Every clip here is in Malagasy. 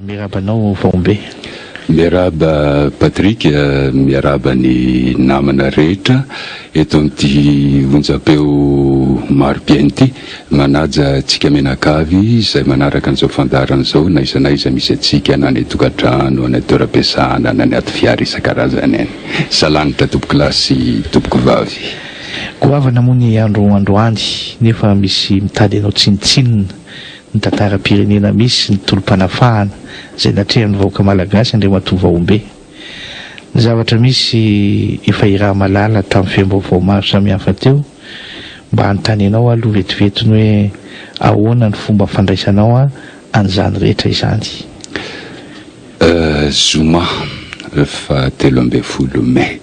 Miarahaba anao Vaombe. Miarahaba Patrick, miarahaba ny namana rehetra eto amin'ity onjam-peo maro dieny ity. Manaja antsika mianakavy izay manaraka an'izao fandaharana izao na aiza na aiza misy antsika na any an-tokantrano, any an-toeram-piasana na anaty fiara isan-karazany any. Salanitra tompoko lahy sy tompoko vavy. Goavana moa ny andro androany nefa misy mitady anao tsinontsinona ny tantaram-pirenena misy ny tolom-panafahana izay natrehan'ny vahoaka malagasy Andriamatoa Vahombe. Ny zavatra misy, efa irahamalala tamin'ny feom-baovao maro samihafa teo, mba hanontanianao aloha vetivety ny hoe ahoana ny fomba fandraisanao an'izany rehetra izany. Zoma fahatelo ambin'ny folo mey.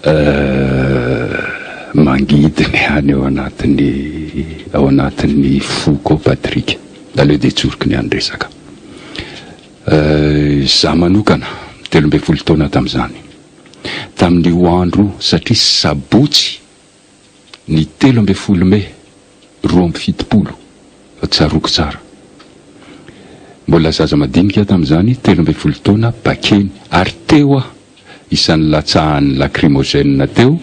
Eh, mangidy ny any ao anatin'ny ao anatin'ny foko ao Patrick. Aleo dia tsoriko ny any resaka. Eh, za manokana, telo ambin'ny folo taona tamin'izany. Tamin'io andro, satria sabotsy ny telo ambin'ny folo mey roa amby fitopolo fa tsaroako tsara. Mbola zaza madinika aho tamin'izany, telo ambin'ny folo taona, Bakeny, ary teo aho isan'ny latsahan'ny lacrymogène teo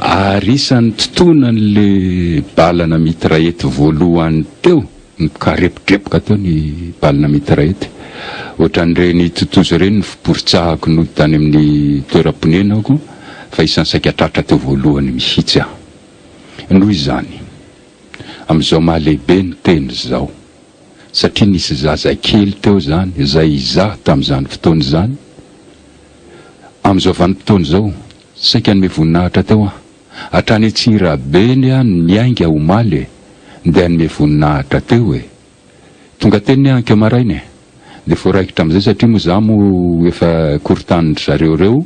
ary isan'ny totonan'ilay bala na mitraillette voalohany teo. Nikarepokepoka teo ny balina mitraillette. Ohatran'ireny totozy ireny ny fiporitsahako nody tany amin'ny toeram-ponenako fa isan'ny saika tratra teo voalohany mihitsy aho. Noho izany, amin'izao maha lehibe ny teny izao, satria nisy zaza kely teo izany izay izaho tamin'izany fotoana izany, amin'izao vanim-potoana izao, saika hanome voninahitra teo aho. hatrany Antsirabe ny ahy no niainga omaly e, ndeha hanome voninahitra teo e. Tonga teny ny ahy ankeo maraina e. Dia voaraikitra amin'izay satria moa izaho moa efa korontanin-dry zareo ireo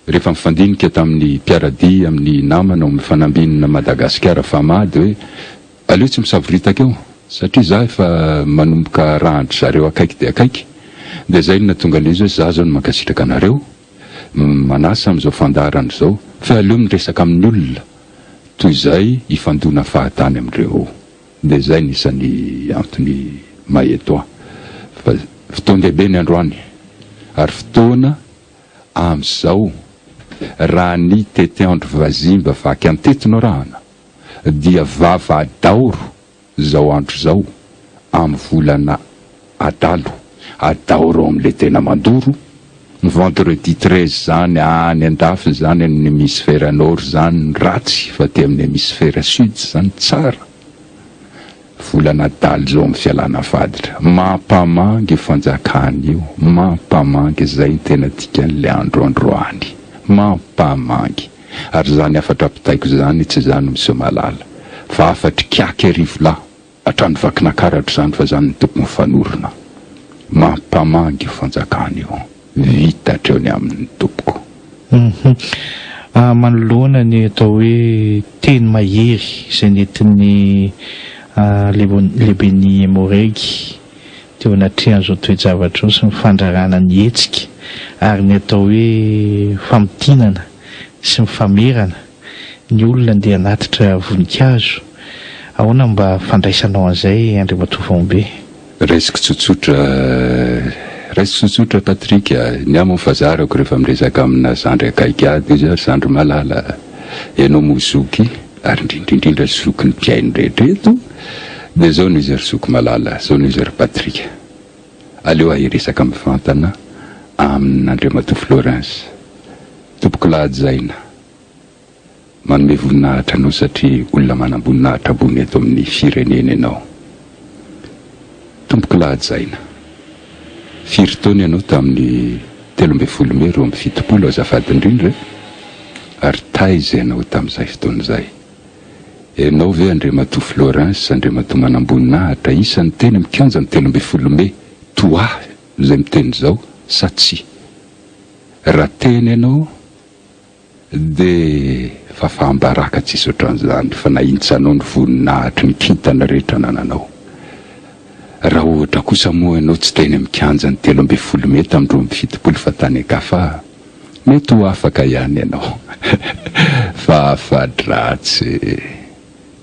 rehefa mifandinika tamin'ny mpiara-dia, amin'ny namana ao amin'ny fanambinina Madagasikara Fama dia hoe aleo tsy misavoritaka eo satria izaho efa manomboka arahan-dry zareo akaiky dia akaiky. Dia izay no nahatonga an'ilay izy hoe izaho izao no mankasitraka anareo. no manasa amin'izao fandaharana izao fa aleo miresaka amin'ny olona toy izay hifandona fahatany amin'ireo dia izay no isan'ny antony maetoa fa fotoan-dehibe ny androany ary fotoana amin'izao raha ny tetiandro vazimba vaky an-teto no arahana dia vava adaoro Izao andro izao, amin'ny volana adalo, adao reo amin'ilay tena mandoro, ny vendredi treize izany any an-dafy izany amin'ny hemisfera nord izany ny ratsy fa aty amin'ny hemisfera sud izany tsara. Volana adalo izao amin'ny fialana faditra. Mampamangy io fanjakana io, mampamangy izay ny tena dikan'ilay andro androany. Mampamangy. Ary izany hafatra ampitaiko izany tsy za no miseho mahalala fa hafatr'i Kiaky Arivolahy hatrany Vakinankaratra izany fa izany no tokony ho fanorona mampamangy io fanjakana io. Vita hatreo ny aminy tompoko. Hum. Manoloana ny atao hoe teny mahery izay nentin'ny lehiben'i Emmo-Reg, Teo anatrehan'izao toe-javatra izao sy ny fandrarana ny hetsika ary ny atao hoe famintinana sy ny famerana ny olona dia hanatitra voninkazo, ahoana no mba fandraisanao an'izay Andriamatoa Faombe? Raisiko tsotsotra, raisiko tsotsotra Patrick a! Ny ahy moa fa zarako rehefa miresaka amina zandry akaiky ahy dia zandry malala, ianao moa zoky. ary indrindra indrindra zoky ny mpihaino rehetra eto dia zao noho izay ry zoky malala zao noho izay ry patrick aleo ahay hiresaka mivantana amin andriamatoa florence tompoko lahajaina manome voninahitra anao satria olona manam-boninahitra ambony eto amin'ny firenena ianao Tompoko lahajaina. Firy taona ianao tamin'ny telo ambin'ny folo mey roa amby fitopolo azafady indrindra e? Ary taiza ianao tamin'izay fotoana izay? Ianao ve Andriamatoa Florens Andriamatoa Manamboninahitra isan'ny teny amin'ny kianjan'ny telo ambin'ny folo mey toa ahy izay miteny izao sa tsia? Raha teny ianao, Dia fafaham-baraka tsisy ohatran'izany fa na intsanao ny voninahitry ny kintana rehetra anananao. Raha ohatra kosa moa ianao tsy teny amin'ny kianjan'ny telo ambin'ny folo mey tamin'ny roa amby fitopolo fa tany an-kafa, mety ho afaka ihany ianao. Fa afa-dratsy e!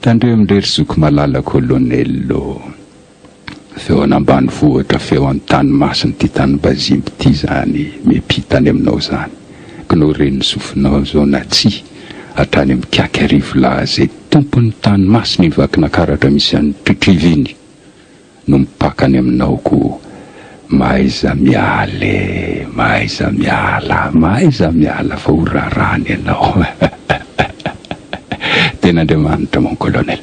Tandremo ndray ry zoky malala Kolonely ô! Feo an ambanivohitra feo an tany masina ty tany bazimby ty zany mipita any aminao zany ko nao re ny sofinao zao na tsy hatrany am kiaky arivo lahy ze tompony tany masina i vakinakaratra misy an tritriva iny no mipaka any aminao ko mahaiza miala e mahaiza miala mahaiza miala fa ho rarany ianao tena andriamanitra mon colonel.